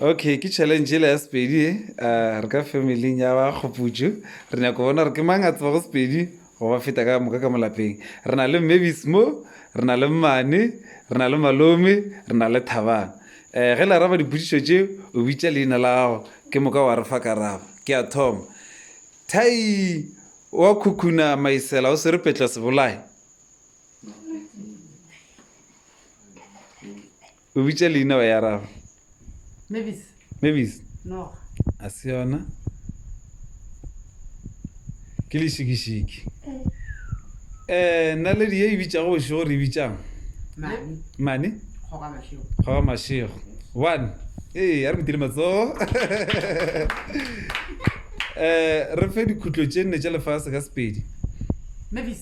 okay ke challenge ele ya sepedi e re ka family ya ba kgoputso re nyako bona re ke mang a tseba go sepedi go ba feta ka moka ka molapeng re na le mmebis mo re na le mmane re na le malome re na le thabang um ge le araba diputsiso tse o bitsa leina la gago ke moka wa re fa karabo ke a thoma thai wa khukhuna maisela o swere petla sebolae O bitša leina wa ya raro. Mavis. Mavis. Noga. A se yona. Ke lešikishiki. Eh, eh naledi ye e bitšago bošego gore e bitšang? Mane. Mane? Kgoga mašego. Kgoga mašego. One. Ee, a re motile matsogo. Eh, re fe dikhutlo tše nne tša lefase ka sepedi. Mavis.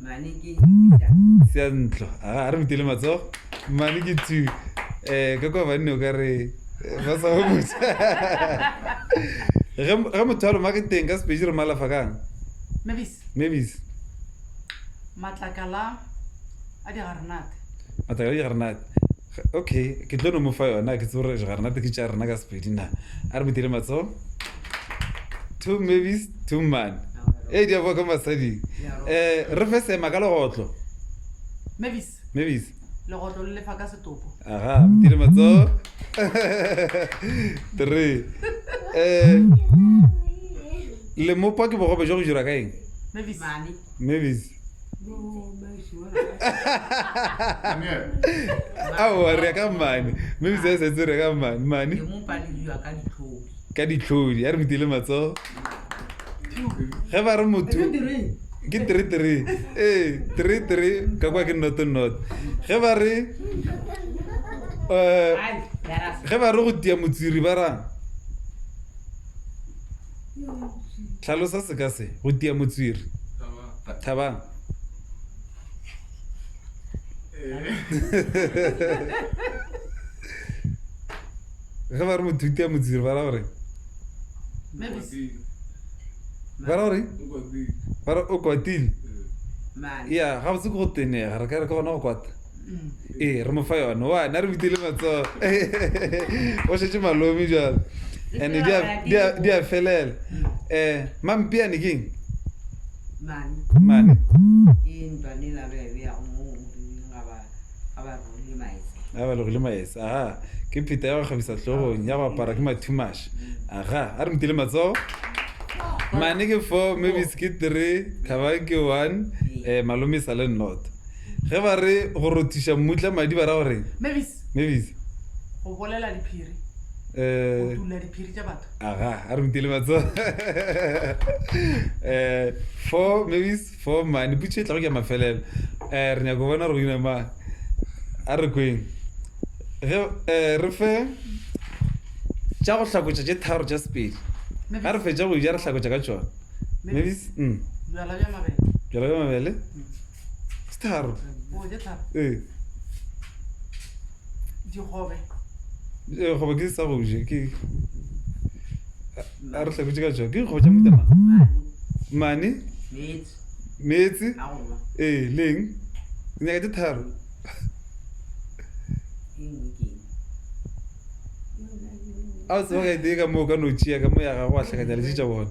Mane ke Peter. Seantlo. Aga, a re mutele matsogo. Mane ke two. Eh, ka kwa banne o ka re ba sa go botsa. Ge ge motho a loma ke teng ka sepeji re malafa kang? Mebis. Mebis. Matlakala a digarenate. Matlakala a digarenate. Okay, ke tlo no mo fa yona, ke tsebe gore ga rena tiki tša rena ka Sepedi na. A re mo dire matso. Two movies, two man. Hey, di a boa ka masading. Eh, re fe sema ka legotlo. Mavis. Mavis. Legotlo le lefa ka setopo. Aha, mo dire matso. Three. Eh, le mopa ke bogobe jo go jura ka eng? Mavis. Mavis. aowa re ya ka mane maybe se setse re ya ka mane mane ka ditlhodi ya re rutile matsogo ge ba re motho ke three three ee three three ka kwa ke noto noto ge ba re um ge ba re go tia motsiri ba rang tlhalosa seka se go tia motswiri thabang ge ba re motho o tia motswiri ba ra gore ba ra gore ba re o kwatile ya ga botse ke go tenega re ka re ke gona go kwata ee re mo fa yone wa na re butile matsogo o šetse malomi jalo and-e di a felela um mampiane keng mane a ba legole maese aha ke pheta ya go kgabisa tlhogong ya go apara ke mathumaša aga a re mutile matsogo mane ke four maybe ke three thaba ke one um malome e sa le nnota Ge ba re go rothiša mmutla madi ba ra go reng? Mavis. Mavis. Go bolela diphiri. Eh. Go tula diphiri tša batho. Aga, a re butele matso. Eh, for Mavis, for mane putso e tla go ke mafelelo. Eh, re nyaka go bona re go ina mang. A re kweng. Ge eh re fe tša go hlakotša tše tharo tša sepedi. Ga re fetša go ja re hlakotša ka tšona. Mavis. Mm. Bjala bja mabele. Bjala bja mabele. Mm. Staro. Oh, that's up. Eh. Dikgobe. Eh, go ke sa go je ke a re tlhako tšeka tšwa ke go ja motama mane meetse ee leng nyaka tše tharo a o tseba ga e tee ka moo ka notšea ka mo ya gago a tlhakanya letše tša bona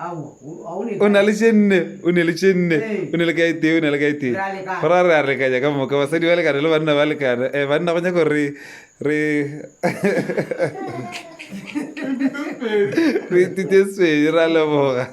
o na le tše nne o ne le tše nne o ne le kae tee o ne le kae tee go ra re a lekanya ka moka basadi ba lekana le banna ba lekana um banna go nyako re re re ithute sedi ra leboga